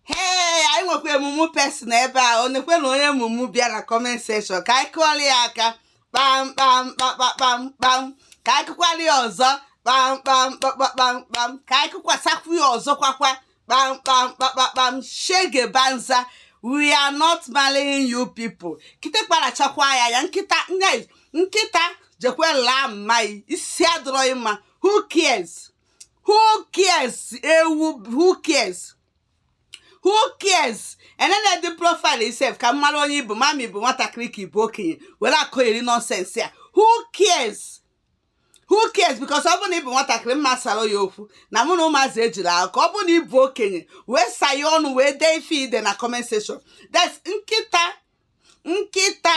ee anyị nwekwa a mumu person ebe a nekwenụ onye mumu bịa na comment section ka anyị kụọrọ ya aka kpam kpam kpakpakpam kpam ka anyị kụkwara ya ọzọ kpam kpam kpakpakpam kpam ka anyị kụkwasakwu ya ọzọ kwakwa kpam kpam kpakpakpam shege banza we are not marrying you people kịtịkpa rachakwa ya anya nkịta nkịta jekwe laa mma yi isi adịrọ yi mma who cares who cares ewu who cares who cares enenedị profile yi sef ka m mara onye ị bụ m ma ma ị bụ nwatakịrị ka ị bụ okenye were akọgheri nonsense a who cares who cares because ọ bụrụ na ị bụ nwatakịrị m ma sara ya okwu na mụ na ụmụazị ejiri ahụ ka ọ bụrụ na ị bụ okenye wee sayee ọnụ wee dee ife i de na comment section that's nkịta nkịta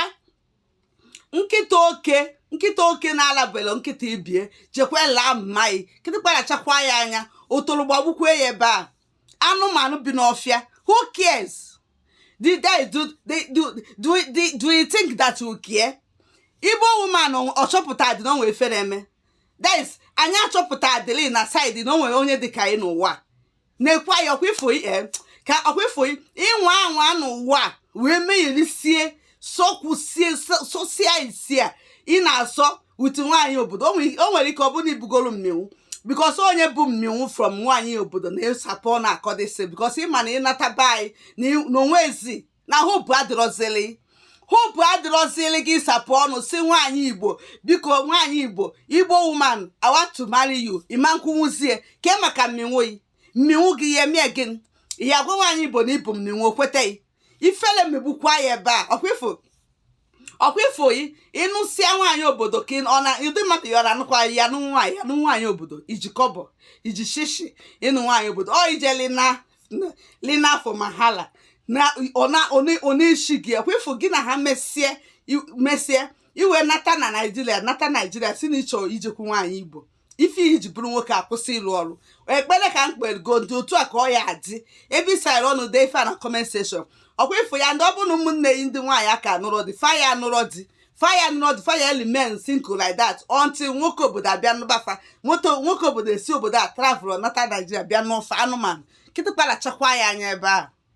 nkịta oke nkịta oke na-alabelo nkịta ibe ya jekwa laa mma yi kịtịkpa rachakwa ya anya ọtọrọ gbagbukwe ya ebe a anụmanụ bi n'ọfịa who cares the guy do they do do do do you think that you care igbo woman ọ chọpụtadị na o nwe efere eme that is anyị achọpụtadịlị na saịdị na o nwe onye dịka yi n'ụwa nekwe ya ọkwa ị fụ yi eh, ka ọkwa ị fụ yi ịnwa anwa n'ụwa a wee megherisie sọkwusie sọ- sọsịa isi a ị na-asọ with nwaanyị obodo o nwere- o nwere ike ọ bụrụ na i bugoro mmịnwụ because onye bu mmịnwụ from nwaanyị obodo na-asapụ ọnụ akọdịsị because ị ma na ị nata be anyị na ị- na o nwezi na hope adịrọzili hope adịrọzili gị sapụ ọnụ sị nwaanyị igbo biko nwaanyị igbo igbo woman I want to marry you ị ma-ekwunwuzie ke maka mmịnwụ yi mmịnwụ gị ya emie gị ị ya-agwa nwaanyị igbo na i bu mmịnwụ o kwete gị ifele megbukwa ya ebe a ọkwa ị fụ ọkwa ị fụ yi ị nụsịa nwaanyị obodo ka ọ na ụdị mmadụ ya ọ na-anụkwa ya nụ nwaanyị ya nụ nwaanyị obodo i ji kọbọ i ji shishi ịnụ nwaanyị obodo ọ ije lina lina afọ mahala na ọ na ọ na- ọ na-eshi gị ọkwa ị fụ gị na ha mesie i- mesie i wee nata na naijiria nata naijiria sị na ị chọ ijekwu nwaanyị igbo ife i ji bụrụ nwoke akwụsị ịlụ ọrụ ekpere ka m kpere God otu a ka ọ ya-adị ebe ị sara ọnụ dee ife a na comment section ọkwa ị fụ ya and ọ bụrụ na ụmụnne yi ndị nwaanyị aka nụrọ di fa ya nụrọ di fa ya nụrọ di fa ya e-remain single like that until nwoke obodo abịa nụba fa nwoke obodo esi obodo a travel nata naijiria bịa nụ fa anụmanụ kịtịkpa rachakwa ya anya ebe a